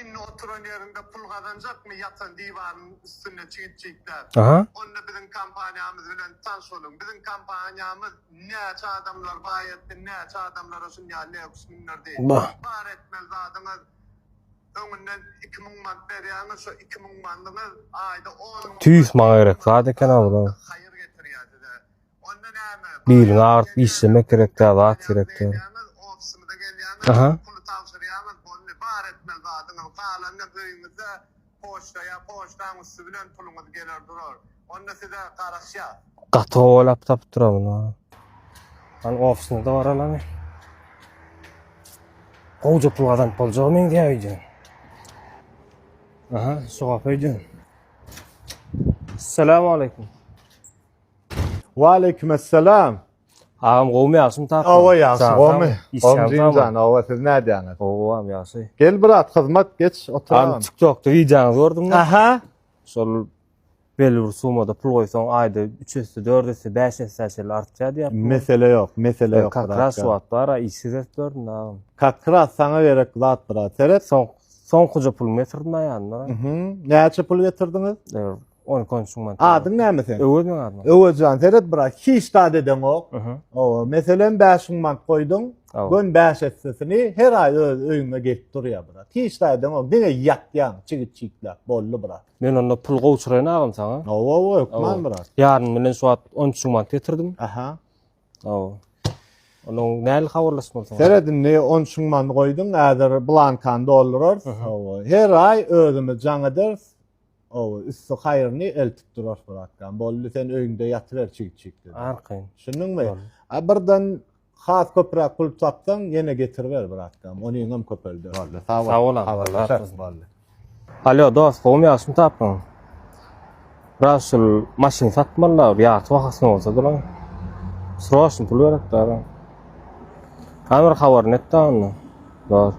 Indi oturan ýerinde pul gazanjakmy ýatan diwaryň üstünde çigit çigitläp? Onda biziň kompaniýamyz bilen tans boluň. Biziň kompaniýamyz näçe adamlar baý etdi, näçe adamlara şun ýaly leuks mündürdi. Bar etmeli zadyňyz öňünden iki müň mant berýäňiz, şo iki müň mandyňyz aýda on müň mant. Tüýs maňa gerek zat eken-a bular. Haýyr getirýär size. Biliňi agyrt işlemek gerek däl zat gerek däl. Aha. Gaty gowalap tapdyra bunu. An ofisinde bar alan. Gowja pul gazanyp boljagy meňzeýär öýdýän. Aha, şu gapa öýdýän. Assalamu aleykum. Waleýkim essalam. Agam gowmy ýagşymy tapyň. Hawa ýagşy gowmy. Gowmyjyňjan hawa siz nädýäňiz. Gowam ýagşy. Gel brat hyzmat geç oturan. Abi TikTokda wideoňyzy gördüm. Aha. Şol belli bir sumada pul goýsaň aýda 3 esse 4 esse 5 esse şeýle artýar diýýär. Mesele ýok, mesele ýok. Kakras şu wagt bar, işsiz edip gördüm agam. Kakras saňa gerek zat brat. Seret. Soň soňkuja pulumy getirdim aýandan. Näçe pul getirdiňiz? On kon şun man. Adyň näme sen? Öwez men adyma. Öwezjan seret bra hiç dad edeňok. Owa meselen 5 mün man goýduň. Gön 5 etsesini her aý öz öýüňe gelip durýa bra. Hiç dad edeňok. Diňe ýatýaň çigit çiklap boldy bra. Men onda pul gowşuraýyn agam saňa. Owa owa ökman bra. Ýaryn bilen şu wagt 10 mün man getirdim. Aha. Owa. Onuň näli habarlaş bolsa. Seret indi 10 mün man goýduň. Äzer blankan doldurarys. Owa. Her aý özümiz jaň ederis. Ow, üsti haýyrny eltip durar Furatkam. Boldy, sen öýüňde ýatyber çig-çig, dedi. Arkaýyn. Düşündiňmi? Boldy. A birden has köpräk pul tapsaň, ýene getiriber, bratkam. Onyňam köpelder. Boldy, sag bol. Sag bol, habarlaşarys. Boldy. Alýo, dost, gowumy, ýagşymy tapyň? Brat, şul maşyny satmaly-la, bir ýarty bahasyna bolsa dolaň. Sroçny pul gerek-dä, brat. Hany bir habaryny et-dä onda, dost.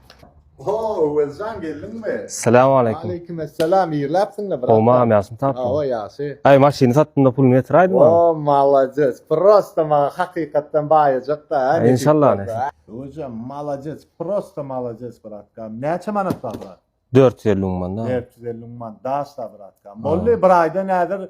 Ho, Öwezjan geldiňmi? Salam aleýkum. Aleýkum esselam. Ýerläpsiňmi brat? Howma, ýaşyny tapdyň. Hawa, ýaşy. Aý, maşyny satdym-da puluny ýetiräýdim maňa. O, malades. Prosta maňa hakykatdan baýajak-da. Inşallah nesip. Öwezjan, malades. Prosta malades bratkam. Näçe manat bar brat? Dört ýüz elli müň man. Dört ýüz elli müň man. Daşda bratkam. Boldy, bir aýda nädir?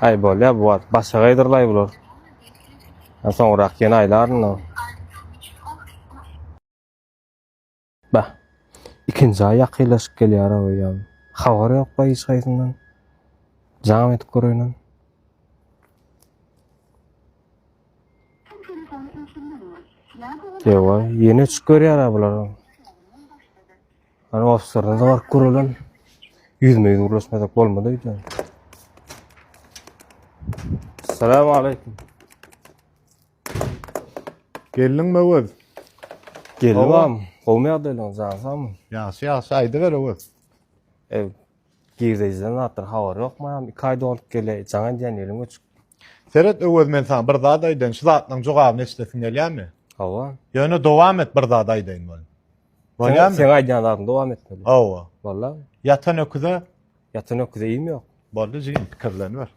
Aý bolýar bu wagt başga gaýdyrlaý bular. Ha soňrak ýene aýlaryn-da. Bah. Ikinji aý ýakynlaşyp gelýär awy ýa. Habar ýok-la hiç haýsyndan. Jam edip göräýin. Ýowa, ýene uçup görýär-ä bular. Ana ofislerden de baryp görelen. Yüzme yüz gürleşmesek bolmadı öýde. Salam aleyküm. Gelin mi Öwez? Gelin Gowy. bam. Gowmy ýagdaýlaryňyz ýagsamy? Ýagşy ýagşy aýdyber Öwez. Ew. Girdejiden zatlar habar ýokmy? Hem iki aý dolup gele. Jaň edýän ýeriň göçüp. Seret Öwez men sana bir zat aýdaýyn. Şu zatlaryň jogabyny eşidesiň gelýärmi? Hawa. Ýöne dowam et bir zat aýdaýyn welin. Bolýarmy? Sen aýdýan zadyňy dowam etmeli. Hawa. Bolda. Ýatan öküze ýatan öküze iým ýok. Boldy jigim, pikirleniber.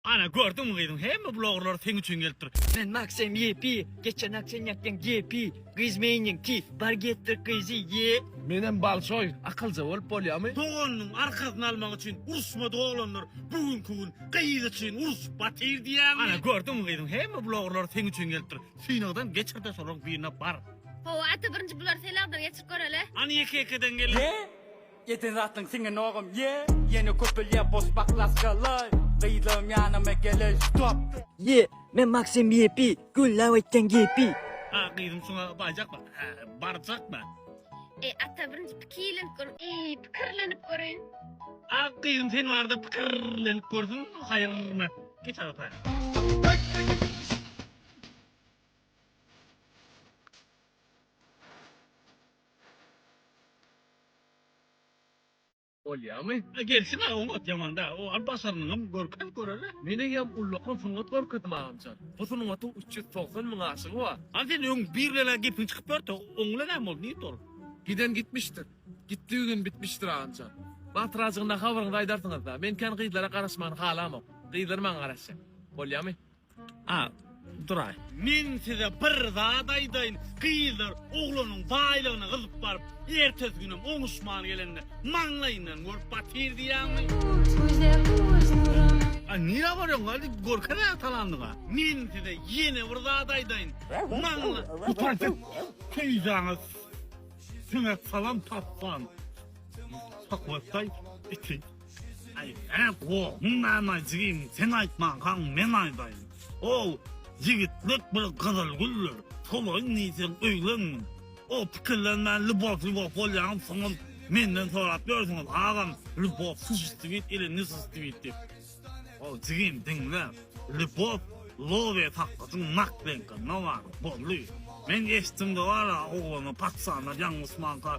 Ana gördüňmi gyzyň hemme bu logurlar seň üçin gelipdir. Men Maksym yepi, geçen ak sen yakyan gepi. Gyz meýniň ti, bar getir gyzy ye. Menem balçoý, akylja bolup bolýamy? Doganynyň arkasyny almak üçin uruşmadyk oglanlar bu günki gün gyz üçin uruşyp batyr diýýäňmi? Ana gördüňmi gyzyň hemme blogerleri seň üçin gelipdir. Synagdan geçirde şolaryň birine bar. Hawa ata birinji bular senagdan geçirip göreli. Hany ýeke ýekeden gelin. Eden zatyň siňen ogam yeah. Ýene köpelýär boş baklažkalar Gyzlarym ýanyma geler stop. Yeah men Maksym VIP günläp aýtýan gepi. A gyzym şuňa baýjakmy? Hä barjakmy? Eý ata birinji pikirlenip gör. Eý pikirlenip görün. A gyzym sen barda pikirlenip görsün haýyrmy? Geç agata. Bolýamy? A gelsin a oňat ýaman däl. O al başarnyňam görkezip göreli. Meneňem ullakan sungat görkezdim agamjan. Bu sungatyň üç ýüz togsan müň aşygy bar. A sen öň bir bilen-ä gepiň çykyp ýördi. Oň bilen näme boldy? Nirde ol? Giden gitmişdir. Gitdigi gün bitmişdir agamjan. Batyracygyna habaryňyzy aýdarsyňyz-da. Men kän gyzlara garaşmagyny halamok. Gyzlar maňa garaşýar. Bolýamy? A. Duraý. Men size bir zat aýdaýyn, gyzlar oglanyň baýlygyna gyzyp baryp, ertesi günem oňuşman gelende, maňlaýyndan görüp batyr diýýäňmi? A. Nirä barýoň, hadi görkezä talandyňa. Men size ýene bir zat aýdaýyn, maňla. Gutardyk, peýdaňyz siňe salam tapman, sokotdaý iti. Aý näk o, muň näme jigim sen aýtmankaň men aýdaýyn. Ol ýigitlik bir gyzyl güldür, solaýyn diýseň öýlen. O pikirlenmän lýubow lýubow bolýaňyz soňam menden sorap ýörsüňiz agam lýubow sushistwit ili nusistwit diýip. Ol jigim diňle, lýubow lowe sakgyjyň nak deňkinde bar, boldy. Men eşitdim-de bar-a oglana paçsanlar ýaňlysmanka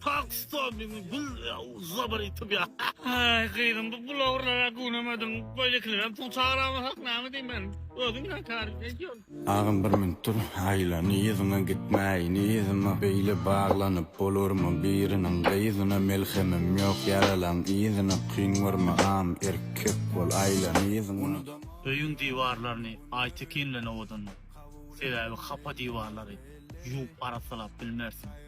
Pakistan diňe biz zabar etip ya. Ay gyzym bu bloggerlara günemediň. Böylekilerem pul çagyramaz hak name diýim men. Özüň bilen tarif edýän. Agam bir minut dur aýla nyýzyňa gitmäý nyýzyma beýle baglanyp bolarmy biriniň gyzyna melhemim ýok ýaralaň yzyna kyn görme agam erkek bol aýla nyýzyňa unudama. Öýüň diwarlaryny Aýtekin bilen owadanla. Sebäbi hapa diwarlary ýuwup arassalap bilmersiň.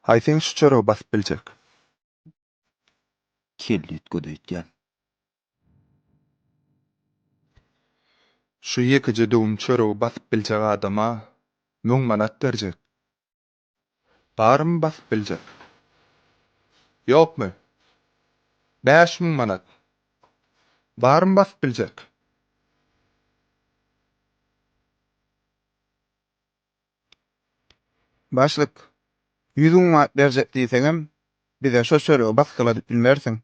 Haý seň şu çöregy basyp biljek. Kelle itgöz öýtýän. Şu ýekeje döwüm çöregi basyp biljek adama müň manat berjek. Barmy basyp biljek? Ýokmy? Bäş müň manat. Barmy basyp biljek? Başlyk, ýüz müň manat berjek diýseňem, bize şo çöregi basgyladyp bilmersiň.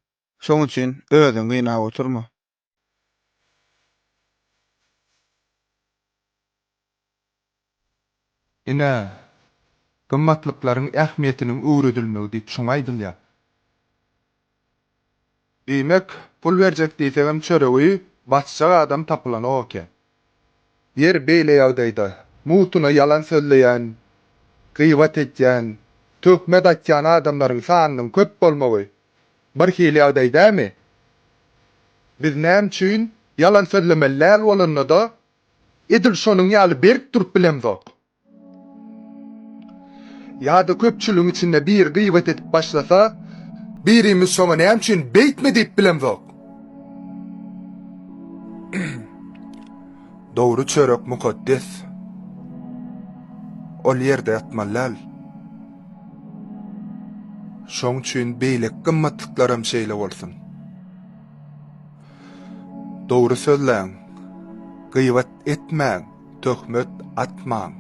Şoň üçin özüňi gynap oturma. Ine, gymmatlyklaryň ähmiýetiniň öwredilmegi diýip şuňa aýdylýar. Diýmek, pul berjek diýsegem çöregi basjak adam tapylanok eken. Ýeri beýle ýagdaýda, mugtuna ýalan sözleýän, gybat edýän, töhmet atýan adamlaryň sanynyň köp bolmagy birhili ýagdaý dälmi? Biz näme üçin ýalan sözlemeli däl bolanda-da, edil şonuň ýaly berk durup bilemzok? Ýa-da köpçüligiň içinde biri gybat edip başlasa, birimiz şoňa näme üçin beýtme diýip bilemzok. Dogry çörek mukaddes. Ol ýerde ýatmaly däl. Şoň üçin beýleki gymmatlyklaram şeýle bolsun. Dogry sözläň. Gybat etmäň. Töhmet atmaň.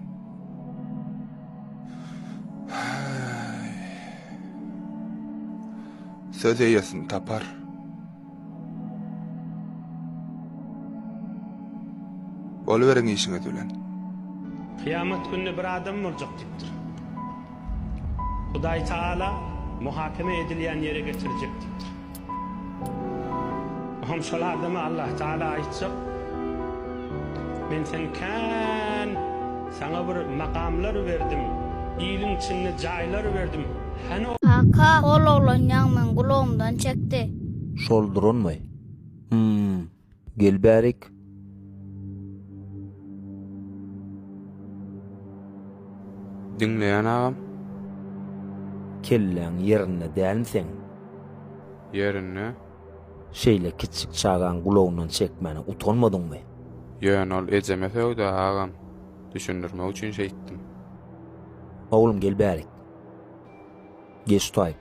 Söz eýesini tapar. Boluberiň işiňiz bilen. Kyýamat gününe bir adam boljak diýipdir. Hudaý Taala muhakeme edilýän ýere getirjek diýipdir. O hem şol adama Allah Taala aýtjak, Men seni kän, saňa bir makamlar berdim, iliň içinde jaýlar berdim, hany ol. Kaka, ol oglan ýaňyňdan gulagymdan çekdi. Şol duranmy? Hum, Gel bärik. Diňleýän agam. Kelläň ýerinde dälmi seň? Ýerinde. Şeýle kiçjik çagaň gulagyndan çekmäne utanmadyňmy? Ýöne ol ejeme sögdä agam. Düşündirmek üçin şeýtdim. Oglum gel bärik. Geç taýyp.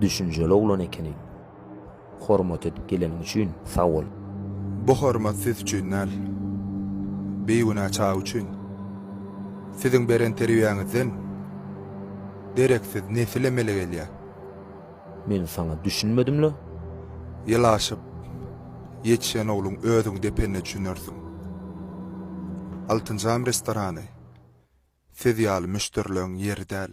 Düşünjeli oglan ekeniň. Hormat edip geleniň üçin sag bol. Bu hormat siz üçin däl. Bigünä çaga üçin. Siziň beren terbiýäňizden dereksiz nesil emele gelýär. Men saňa düşünmedimle? Ýylaşyp ýetişen ogluň özüň depende düşünersiň. Altynjam restorany siz ýaly müşderileň ýeri däl.